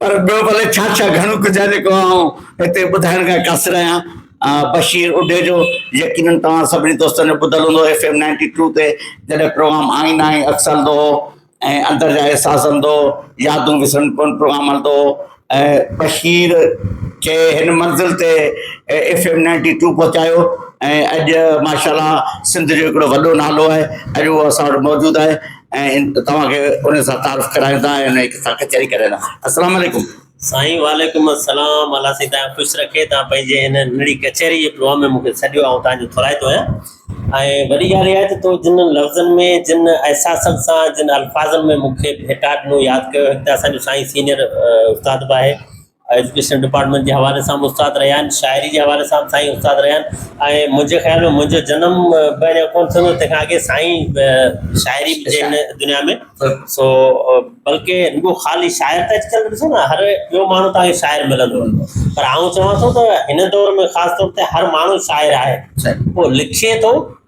پر ٻيو ڀلي ڇا ڇا گهڻو ڪجهه آهي جيڪو آئون هتي ٻڌائڻ کان قاصر آهيان. بشير اڍيجو، يقينن توهان سڀني دوستن جو ٻڌل هوندو ايف ايم نائنٽي ٽو تي جڏهن پروگرام آئين آئين عڪس هلندو هو ۽ اندر جا احساس هلندو هو، يادون وسرن ڪون پروگرام هلندو هو. بشير کي هن منزل تي ايف ايم نائنٽي ٽو پهچايو ۽ اڄ ماشاء الله سنڌ جو هڪڙو وڏو نالو آهي اڄ هو اسان وٽ موجود آهي. ۽ توهان کي انهن سان تعارف ڪرايون ٿا ۽ انهن سان ڪچهري ڪري رهيا آهيون السلام عليڪم. سائين وعليڪم السلام الله سائين تان خوش رکي تان پنهنجي هن نڙي ڪچهري جي پروگرام ۾ مونکي سڏيو آئون تان جو ٿورائتو آهيان ۽ وڏي ڳالهه اها آهي ته تو جن لفظن ۾ جن احساسن سان جن الفاظن ۾ مونکي ڀيٽا ڏنو ياد ڪيو هڪ ته اسان جو سائين سينيئر استاد به آهي ايجوڪيشن ڊپارٽمينٽ جي حوالي سان به استاد رهيا آهن شاعري جي حوالي سان به سائين استاد رهيا آهن ۽ منهنجي خيال ۾ منهنجو جنم به اڃان ڪونه ٿيو هوندو تنهن کان اڳي سائين شاعري جي هن دنيا ۾ سو بلڪه رڳو خالي شاعر ته اڄڪلهه ڏسو نه هر ٻيو ماڻهو توهان کي شاعر ملندو پر آئون چوان ٿو ته هن دور ۾ خاص طور تي هر ماڻهو شاعر آهي پوء لکي ٿو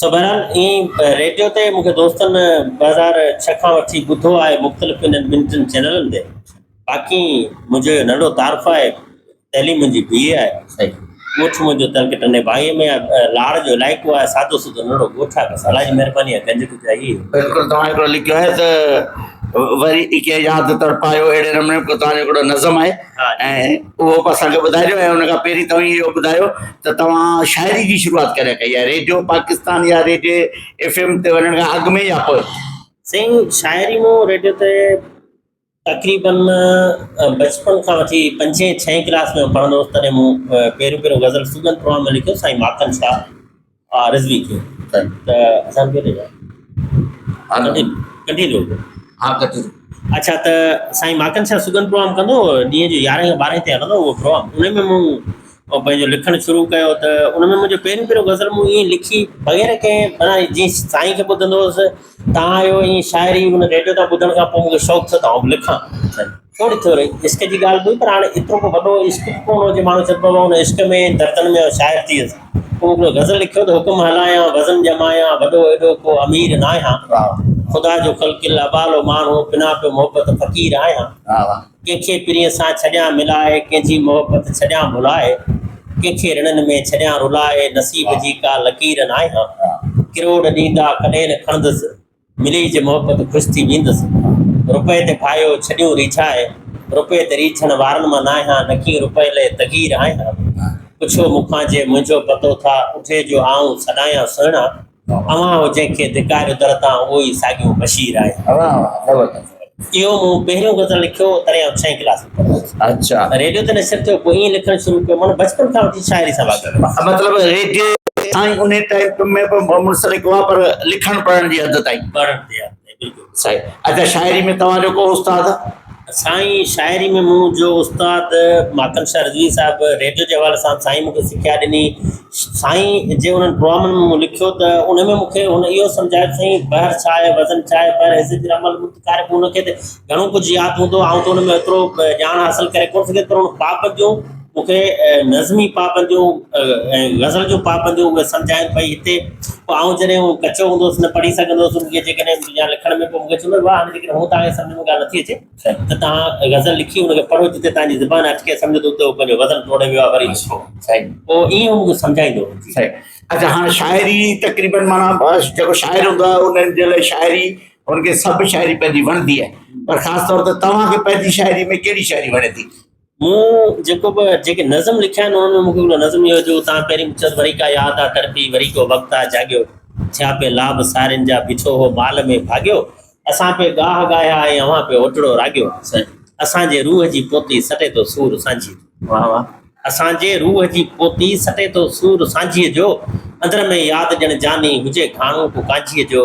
سو بهرحال ائين ريڊيو تي مون کي دوستن ٻه هزار ڇهه کان وٺي ٻڌو آهي مختلف انهن ٻن ٽن چينلن تي باقي منهنجو ننڍو تعارف آهي تعليم منهنجي بي اي آهي ڳوٺ منهنجو ترڪ ٽنڊي باهي ۾ آهي لاڙ جو علائقو آهي سادو سودو ننڍو ڳوٺ آهي بس الله جي مهرباني آهي گنج ڪجا هي بلڪل توهان هڪڙو لکيو آهي ته وري ڪنهن ياد تڙپايو اهڙي نموني تنهنجو هڪڙو نظم آهي ۽ اهو به اسان کي ٻڌائجو ۽ ان کان پهرين توهين اهو ٻڌايو ته توهان شاعري جي شروعات ڪڏهن ڪئي آهي ريڊيو پاڪستان يا ريڊيو ايف ايم تي وڃڻ کان اڳ ۾ يا پوء؟ سائين شاعري مون ريڊيو تي تقريبن بچپن کان وٺي پنجين ڇهين ڪلاس ۾ پڙهندو هوس تڏهن مون پهريون پهريون غزل سوگند پروان ۾ لکيو سائين ماکن شاهه آء رضوي کي ته اسان کي ڏجا ڪنڊي ڪنڊي روڊ ها ڪنڊي اچھا ته سائين ماڪن شاھ سگن پروگرام ڪندو ڏينهن جو يارهين کان ٻارهين تي هلندو اهو پروگرام ان ۾ مون پنهنجو لکڻ شروع ڪيو ته ان ۾ منهنجو پهريون پهريون غزل مون ائين لکي بغير ڪنهن مانا جيئن سائين کي ٻڌندو هوس تان آيو ائين شاعري ان ريڊيو تان ٻڌڻ کان پوء مون کي شوق ٿيو ته آئون به لکان ٿوري ٿوري عشق جي ڳالهه هئي پر هاڻي ايترو ڪو وڏو عشق به ڪونه هو جو ماڻهو چئي پوي ان عشق ۾ دردن ۾ شاعر ٿي ويس. ڪو هڪڙو غزل لکيو ته حڪم هلايان وزن ڄمايان وڏو ايڏو ڪو امير ناهيان خدا جو خلق الاعبال و ماڻهو بنا پيو محبت فقير آهيان ڪنهن کي پرينء سان ڇڏيان ملائي ڪنهن جي محبت ڇڏيان ڀلائي ڪنهن کي رڻن ۾ ڇڏيان رلائي نصيب جي ڪا لڪير ناهيان ڪروڙ ڏيندا ڪڏهن نه کڻندس ملي جي محبت خوش ٿي ويندس. رپئي تي ڦاهيو ڇڏيون ريڇائي، رپئي تي ريڇڻ وارن مان ناهيان، نڪي رپئي لئي تغير آهيان. پڇو مون کان جي منهنجو پتو ٿا اٺي جو آئون سڏايان سهڻا، اوهان هو جنهن کي ڌڪاريو در تان اهو ئي ساڳيون بشير آهيان. اهو مون پهريون غزل لکيو هو تڏهن آئون ڇهين ڪلاس ۾ پڙهندو هوس. اچا. ريڊيو تي نشر ٿيو پوء ائين لکڻ شروع ڪيو معنيٰ بچپن کان وٺي شاعري سان واقف هوس. مطلب ريڊيو تائين ان ٽائيم ۾ به منسلڪ هئا پر لکڻ پڙهڻ جي حد تائين. پڙهڻ جي حد تائين بلڪل. صحيح. اچا شاعري ۾ توهان جو ڪو استاد؟ سائين شاعري ۾ مون جو استاد ماتم شاهه رضوي صاحب ريڊيو جي حوالي سان سائين مون کي سکيا ڏني. سائين جي انهن ڊرامن ۾ مون لکيو ته ان ۾ مون کي هن اهو سمجهايو ته سائين بحر ڇا آهي وزن ڇا آهي بحر حيثيت جي عمل مند ڪارڪ ان کي ته گهڻو ڪجهه ياد هوندو آئون ته ان ۾ ايترو ڄاڻ حاصل ڪري ڪونه سگهيس پر ان پابند جون مون کي نظمي پابند جون ۽ غزل جون پابند جون اهي سمجهايون ڀئي هتي پوء آئون جڏهن هو ڪچو هوندو هوس نه پڙهي سگهندو هوس ان کي جيڪڏهن يا لکڻ ۾ ڪو مون کي چوندو هو واهه هاڻي جيڪڏهن هو توهان کي سمجهه ۾ ڳالهه نٿي اچي سائين ته توهان غزل لکي ان کي پڙهو جتي توهان جي زبان اٽڪي سمجهو ته اتي هو پنهنجو وزن ٽوڙي ويو آهي وري لکو سائين پوء ائين هو مون کي سمجهائيندو هو سائين اچا هاڻ شاعري تقريبن معنيٰ بس جيڪو شاعر هوندو آهي انهن جي لاء شاعري هن کي سڀ شاعري پنهنجي وڻندي آهي پر خاص طور تي توهان کي پنهنجي شاعري ۾ ڪهڙي شاعري وڻي ٿي؟ مون جيڪو به جيڪي نظم لکيا آهن، انهن ۾ مون کي هڪڙو نظم اهو جو تان پهرين مون چيس وري ڪا ياد آ تڙپي، وري ڪو وقت آ جاڳيو، ٿيا پي لاڀ سارين جا، بيٺو هو مال ۾ ڀاڳيو، اسان پي ڳاهه ڳايا ۽ اوهان پي اوٽڙو راڳيو، اسان جي روح جي پوتي سٽي ٿو سور سانجهيء جو. واهه واهه. اسان جي روح جي پوتي سٽي ٿو سور سانجهيء جو، اندر ۾ ياد ڄڻ جاني هجي گهاڻو ڪو ڪانجهيء جو،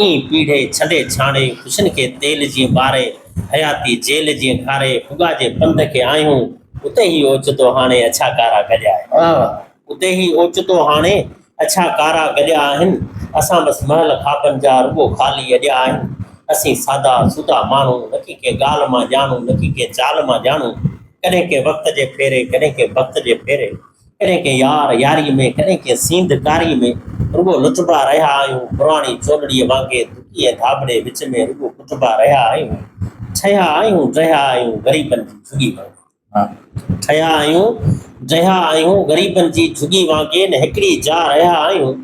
ايئن پيڙهي ڇنڊي ڇاڻي خوشين کي تيل جيئن ٻاري، حياتي جيل جيئن کاري ڦڳا جي پنڌ کي آهيون، اتي هي اوچتو هاڻي اڇا ڪارا گڏيا آهن. آهه! اتي هي اوچتو هاڻي اڇا ڪارا گڏيا آهن، اسان بس محل خوابن جا رڳو خالي اڏيا آهن. اسين سادا سودا ماڻهو، نڪي ڪنهن ڳالهه مان ڄاڻو، نڪي ڪنهن چال مان ڄاڻو، ڪڏهن ڪنهن وقت جي ڦيري، ڪڏهن ڪنهن بخت جي ڦيري. ڪڏهن ڪنهن يار ياريء ۾، ڪڏهن ڪنهن سينڌ ڪاريء ۾، رڳو لٽبا رهيا آهيون، پراڻي چولڙيء وانگي دڪي ۽ ڌاٻڙي وچ ۾ رڳو ڪٽبا رهيا آهيون، ٺهيا آهيون، ڊهيا آهيون، غريبن جي جهڳي وانگي. ٺهيا آهيون، ڊهيا آهيون، غريبن جي جهڳي وانگي نه هڪڙي جاء رهيا آهيون.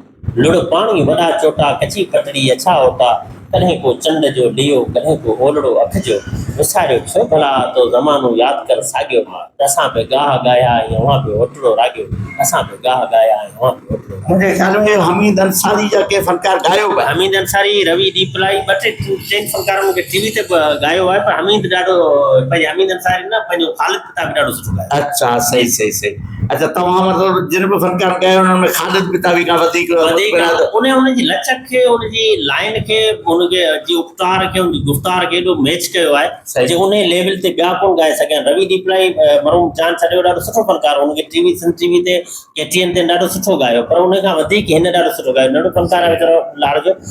لڙ پاڻي وڏا چوٽا ڪچي پٽڙي اڇا اوٽا ڪڏهن ڪو چنڊ جو ڏيئو ڪڏهن ڪو اولڙو اک جو وساريو ڇو ڀلا تو زمانو ياد ڪر ساڳيو ماء اسان به ڳاها ڳايا ۽ اوهان به اوٽڙو راڳيو اسان به ڳاها ڳايا ۽ اوهان به اوٽڙو راڳيو. منهنجي خيال ۾ حميد انصاري جا ڪي فنڪار ڳايو به آهن. حميد انصاري، روي ڏيپلائي ٻه ٽي ٽن فنڪارن مون کي ٽي وي تي به ڳايو آهي پر حميد ڏاڍو پنهنجي حميد انصاري نه پنهنجو خالد ڪتا به ڏاڍو سٺو ڳايو آهي. اچا صحيح صحيح صحيح. اچا توهان مطلب جن به فنڪار ڪيا آهن انهن ۾ خالد پتاوي کان وڌيڪ وڌيڪ ان ان جي لچڪ کي ان جي لائين کي ان جي جي اپٽار کي ان جي گفتار کي ايڏو ميچ ڪيو آهي صحيح. جو انهي ليول تي ٻيا ڪون ڳائي سگهيا آهن روي ڏيپلائي مرحوم جان ڇڏيو ڏاڍو سٺو فنڪار هو ان کي T V Sindh T V تي ڪي ٽي اين تي ڏاڍو سٺو ڳايو پر ان کان وڌيڪ هن ڏاڍو سٺو ڳايو ننڍو فنڪار آهي ويچارو لاڙ جو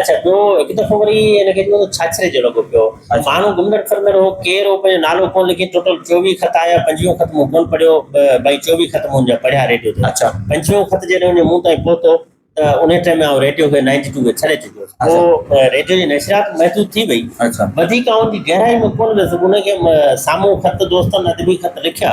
اڇا ٻيو هڪ دفعو وري هن کي ڏنو ته ڇاڇري جو لڳو پيو ماڻهو گمڙڙ ڦرندڙ هو ڪير هو پنهنجو نالو ڪونه لکي ٽوٽل چوويهه خط آيا پنجويهون خط مون ڪونه پڙهيو ڀائي چوويهه خط منهنجا پڙهيا ريڊيو تي اڇا پنجويهون خط جڏهن وڃي مون تائين پهتو ته انهي ٽائيم ۾ آئون ريڊيو کي نائنٽي ٽو کي ڇڏي چڪو هوس پوء ريڊيو جي نشريات محدود ٿي وئي اڇا وڌيڪ آئون ان جي گهرائي ۾ ڪونه ويس ان کي سامهون خط دوستن ادبي خط لکيا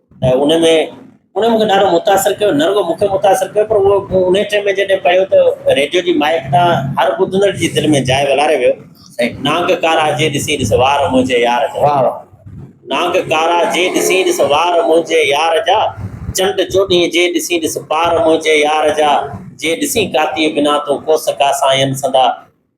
ته ان ۾ ان مونکي ڏاڍو متاثر ڪيو نه رڳو مونکي متاثر ڪيو پر اهو ان ٽيم ۾ جڏهن پڙهيو ته ريڊيو جي مائڪ تان هر ٻڌندڙ جي دل ۾ جاء ولاري ويو نانگ ڪارا جي ڏسي ڏس وار منهنجي يار جا واهه واهه نانگ ڪارا جي ڏسي ڏس وار منهنجي يار جا چنڊ چوڏهين جي ڏسي ڏس پار منهنجي يار جا جي ڏسي ڪاتي بنا تون ڪوس ڪاسائين سندا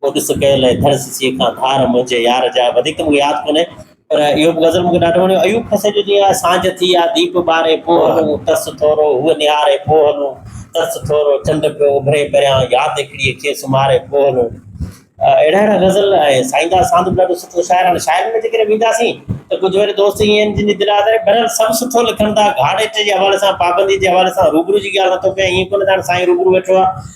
او ڏس ڪيل اي ڌڙ سسيء کان ڌار منهنجي يار جا وڌيڪ ته مون کي ياد ڪونهي پر اهو به غزل مون کي ڏاڍو وڻيو ايوب کسي جو جيئن آهي سانجهه ٿي آ ديپ ٻاري پوء هلون ترس ٿورو هوء نهاري پوء هلون ترس ٿورو چنڊ پيو اڀري پريان ياد هڪڙيء کي سمهاري پوء هلون اهڙا اهڙا غزل ۽ سائينداس ساند به ڏاڍو سٺو شاعر هاڻي شاعرن ۾ جيڪڏهن وينداسين ته ڪجهه وري دوست ائين آهن جن جي دل آزاري پر سڀ سٺو لکن ٿا گهاڙيٽ جي حوالي سان پابندي جي حوالي سان روبرو جي ڳالهه نٿو ڪيان ائين ڪونه ته هاڻي سائين روبرو ويٺو آهي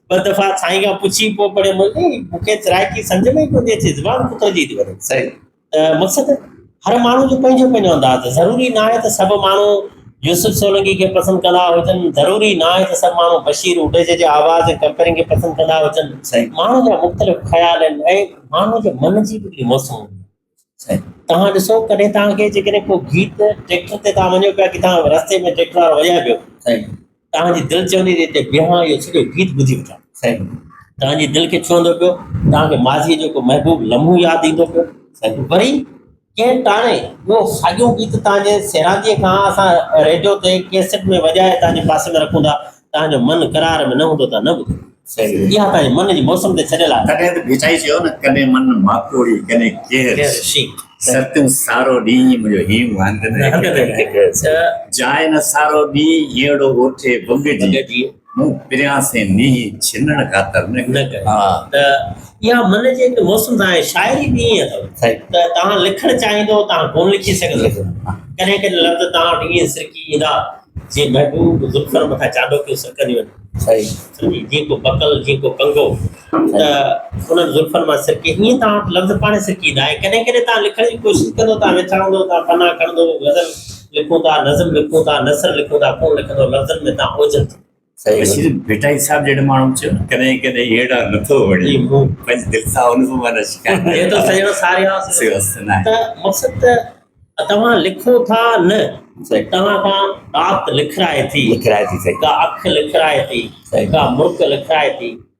ٻه دفعا سائين کان پڇي پوء پڙهيو مولوي مون کي سرائيڪي سمجھ ۾ ئي ڪونهي اچي زبان ڪتر جي ٿي وڃي صحيح ته مقصد هر ماڻهو جو پنهنجو پنهنجو انداز ضروري نه آهي ته سڀ ماڻهو يوسف سولنگي کي پسند ڪندا هجن ضروري نه آهي ته سڀ ماڻهو بشير اوڊيجي جي آواز ۽ ڪمپيرنگ کي پسند ڪندا هجن صحيح ماڻهو جا مختلف خيال آهن ۽ ماڻهو جي من جي به موسم توهان ڏسو ڪڏهن توهان کي جيڪڏهن ڪو گيت ٽريڪٽر تي توهان وڃو پيا ڪٿان رستي ۾ ٽريڪٽر وارو وڄائي پيو توهان جي دل چوندي ته هتي بيهان اهو سڄو گيت ٻڌي وٺان توهان جي دل کي ڇهندو پيو توهان کي ماضيء جو ڪو محبوب لمحو ياد ايندو پيو وري ڪنهن ٽاڻي اهو ساڳيو گيت توهان جي سيرانديء کان اسان ريڊيو تي ڪيسٽ ۾ وڄائي توهان جي پاسي ۾ رکون ٿا تان جو من قرار ۾ نه هوندو تان نه ٻڌو. صحيح. اها تان جي من جي موسم تي ڇڏيل آهي. تڏهن ته ڀيٽائي چيو نه ڪڏهن من ماڪوڙي ڪڏهن ڪير ڪير شي. سر تون سارو ڏينهن منهنجو هيم هنڌ نه هنڌ نه هڪ هڪ هيس. ته جاء نه سارو ڏينهن هيئڙو اوٺي ڀڳ جي. ڀڳ جي. مون پريان سين نيهي ڇنڻ خاطر نه نه ڪيو. ڪيو. ها. ته اها من جي هڪ موسم تان آهي. شاعري به ائين اٿو صحيح. ته تان لکڻ چاهيندو تان ڪونه لکي سگهندو. ڪڏهن ڪڏهن لفظ تان وٽ ائين سرڪي ايندا جي محبوب ذوالفقار مٿان چاڏوڪيون سرڪنديون آهن. سمجهي جي ڪو بڪل جي ڪو ڪنگو ته انهن ذوالفقار مان سرڪي ائين توهان وٽ لفظ پاڻهي سرڪي ايندا ۽ ڪڏهن ڪڏهن توهان لکڻ جي ڪوشش ڪندو توهان ويڇائندو توهان پنا کڻندو غزل لکون ٿا نظم لکون ٿا نثر لکون ٿا ڪونه لکندو لفظن ۾ توهان اوجهل ٿيندو. بشير ڀٽائي صاحب جهڙن ماڻهن چيو نه ڪڏهن ڪڏهن هيڊا نٿو وڻي پنهنجي دل سان ان به معنيٰ شڪايت ڪري ٿو سڄڻ ساريا سيوس نه ته مقصد ته توهان لکو ٿا نه توهان کان رات لکرائي ٿي لکرائي ٿي سهي ڪا اک لکرائي ٿي سهي ڪا مرڪ لکرائي ٿي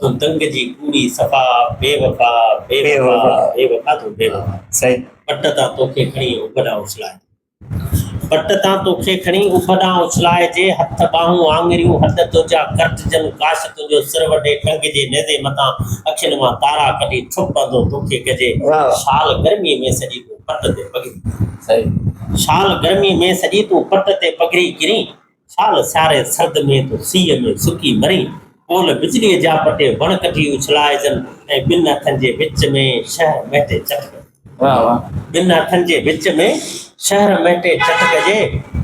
تون تنگ جي ڪوڙي صفا بي وفا بي وفا بي وفا تون بي وفا صحيح پٽ تان توکي کڻي ابڏان اڇلائجي پٽ تان توکي کڻي ابڏان اڇلائجي هٿ ٻانهون آڱريون هڏ تنهنجا ڪرٽجن ڪاش تنهنجو سر وڍي ٽنگ جي نيزي مٿان اکين مان تارا ڪڍي ٺپ پندو توکي ڪجي شال گرمي ۾ سڄي تون پٽ تي پگهري صحيح شال گرمي ۾ سڄي تون پٽ تي پگهري ڪرين سال سياري سرد ۾ تو سيء ۾ سڪي مرين. پول بجليء جا پٽي وڻ ڪٽي اڇلائجن ۽ ٻن هٿن جي وچ ۾ شهر مهٽي چٽ ڪجي. واه واه. ٻن هٿن جي وچ ۾ شهر مهٽي چٽ ڪجي.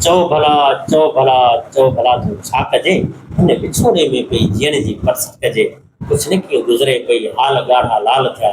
چؤ ڀلا، چؤ ڀلا، چؤ ڀلا تون ڇا ڪجي؟ هن وڇوڙي ۾ پئي جيئڻ جي پرست ڪجي. ڪڇنڪيون گذري پئي حال ڳاڙها لال ٿيا.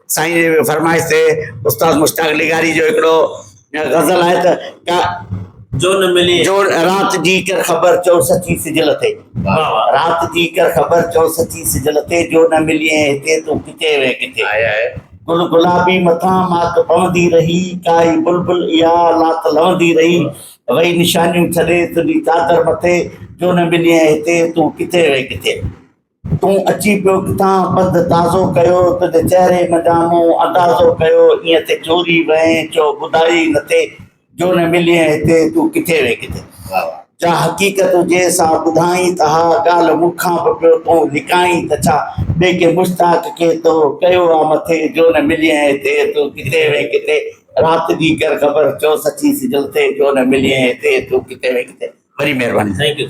سائين جي فرمائش تي استاد مشتاق لغاري جو هڪڙو غزل آهي ته ڪا جو نه ملي جو رات جي ڪر خبر چئو سچي سجل تي رات جي ڪر خبر چئو سچي سجل تي جو نه ملي هتي تون ڪٿي وين ڪٿي آهي آهي گل گلابي مٿان ماڪ پوندي رهي ڪائي بلبل اها لات لوندي رهي وئي نشانيون ڇڏي تنهنجي چادر مٿي جو نه ملي هتي تون ڪٿي وين ڪٿي تون اچي پيو ڪٿان پنڌ تازو ڪيو، تنهنجي چهري منجهان مون اندازو ڪيو، ايئن ٿي چوري وئين جو ٻڌائي نه ٿي، جو نه مليئين هتي تون ڪٿي وئين ڪٿي. جا حقيقت هجي سا ٻڌائين ته ها ڳالهه مون کان به پيو تون لڪائين ته ڇا، ٻئي ڪنهن مشتاق کي تو ڪيو آ مٿي، جو نه مليئين هتي تون ڪٿي وئين ڪٿي، رات جي ڪر خبر چو سچي سج لٿي، جو نه مليئين هتي تون ڪٿي وئين ڪٿي. وڏي مهرباني. Thank you.